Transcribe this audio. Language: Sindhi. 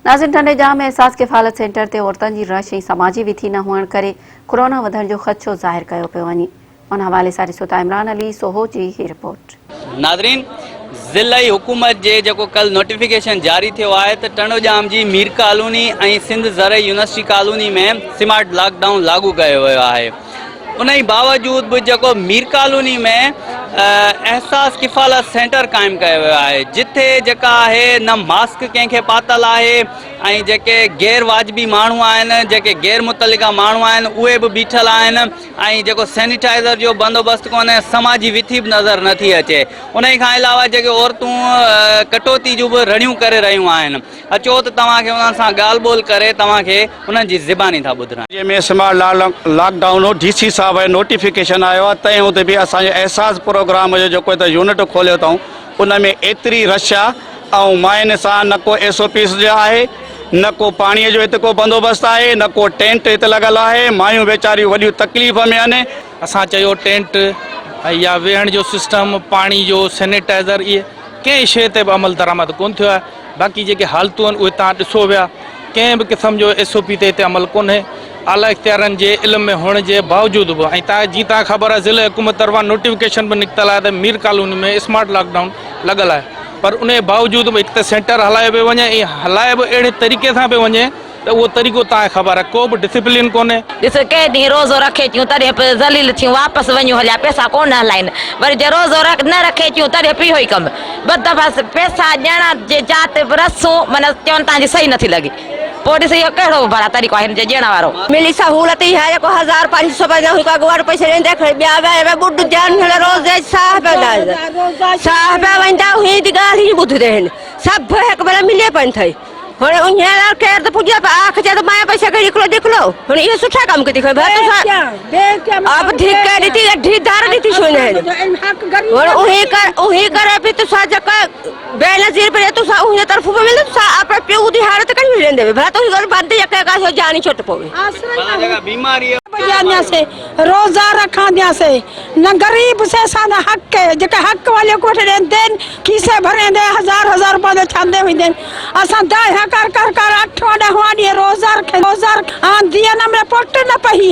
ناظرين ٽنڊيڄام ۾ احساس ڪفالت سينٽر تي عورتن جي رش ۽ سماجي وٿي نه هئڻ ڪري ڪورونا وڌڻ جو خدشو ظاهر ڪيو پيو وڃي ان حوالي سان ڏسو ٿا عمران علي سوهو جي هي رپورٽ. ناظرين ضلعي حڪومت جي جيڪو ڪل نوٽيفڪيشن جاري ٿيو آهي ته ٽنڊوڄام جي مير ڪالوني ۽ سنڌ زرعي university colony ۾ smart lockdown لاڳو ڪيو ويو آهي انهي باوجود به جيڪو مير ڪالوني ۾ احساس ڪفالت سينٽر قائم ڪيو ويو آهي جتي جيڪا آهي نه ماسڪ ڪنهن کي پاتل آهي ۽ جيڪي غير واجبي ماڻهو آهن جيڪي غير متعلقه ماڻهو آهن اهي به بيٺل آهن ۽ جيڪو سينيٽائزر جو بندوبست ڪونهي سما جي وٿي به نظر نٿي اچي انهي کان علاوه جيڪي عورتون ڪٽوتي جون به رڙيون ڪري رهيون آهن اچو ته توهان کي انهن سان ڳالهه ٻولهه ڪري توهان کي انهن جي زباني ٿا ٻڌرائين. جنهن ۾ سمارٽ لاڪ ڊائون هو، ڊي سي صاحب ۽ نوٽيفڪيشن آيو آهي تنهن هوندي به اسان جي احساس پروگرام جو جيڪو هتي يونٽ کوليو اٿئون ان ۾ ايتري رش آهي ۽ ماين سان نه ڪو ايس او پيز جو آهي نه ڪو پاڻي جو هتي ڪو بندوبست آهي نه ڪو ٽينٽ هتي لڳل آهي مايون ويچاريون وڏيون تڪليف ۾ آهن. اسان چيو ٽينٽ ۽ يا ويهڻ جو سسٽم پاڻي جو سينيٽائزر اهي ڪنهن شيء تي به عمل درآمد ڪونه ٿيو آهي. باقي جيڪي حالتون آهن اهي تان ڏسو ويا، ڪنهن به قسم جو ايس او پي تي هتي عمل ڪونهي، اعليٰ اختيارين جي علم ۾ هئڻ جي باوجود به ۽ تان جي تان خبر آهي ضلعي حڪومت طرفان نوٽيفڪيشن به نڪتل آهي ته Mir colony ۾ smart lockdown لڳل آهي پر انهي باوجود به هڪ ته سينٽر هلايو پيو وڃي ۽ هلايو به اهڙي طريقي سان پيو وڃي ته اهو طريقو تانء خبر ڪو به ڊسپلين ڪونهي. ڏس ڪئين ڏينهن روزو رکي ٿيون تڏهن به ذليل ٿيون واپس وڃون هليا پئسا ڪونه هلائين وري جي روزو نه رکي ٿيون تڏهن به اهوئي ڪم ٻه دفعا پئسا ڏيڻ جي جاء تي به رسون معنيٰ چون تنهنجي صحيح نٿي لڳي پوء ڏس اهو ڪهڙو ڀلا طريقو آهي هن جي ڏيڻ وارو. ملي سهولت اها جو ڪو هزار پنج سو پنجاهه هڪ اڳواٽ پئسي ڏئي تنهن کڻي ٻيا ويا اهي ٻڏ جان هن روزي جي ساهه پيا ويندا ساهه پيا ويندا هن جي ڳالهه ئي نه ٻڌندي آهن سڀ هڪ ڀلا ملي پئن ٿئي. هن اونهيان لاء خير ته پڄي پر آخ چي ته مايا پئي سگهي ڏکلو ڏکلو هن اهي سٺا ڪم ڪٿي کيو ڀت سان اب ڌيڪ ڏتي ڍي ڌار ڏتي سو نه هن اونهي ڪر اونهي ڪر به تو سا جڪ بي نظير پر تو سا اونهي طرف به ملن سا اپ پيو دي هار ته ڪن ملندي ڀت هي ڳال بند يڪ ڪا سو جاني ڇوٽ پوي آسرا جا جا بيماري روزا رکان ديان سي نه غريب سي سان نه حق ڪي جيڪي حق واليو ڪوٺ ڏين دين کيسي ڀرين دين هزار هزار روپا دين ڇان دين وين دين اسان دائهيان ڪر ڪر ڪر اٺوان ڏهوان ڏينهن روزا رکين روزا رکان دين امري پوٽ نه پهي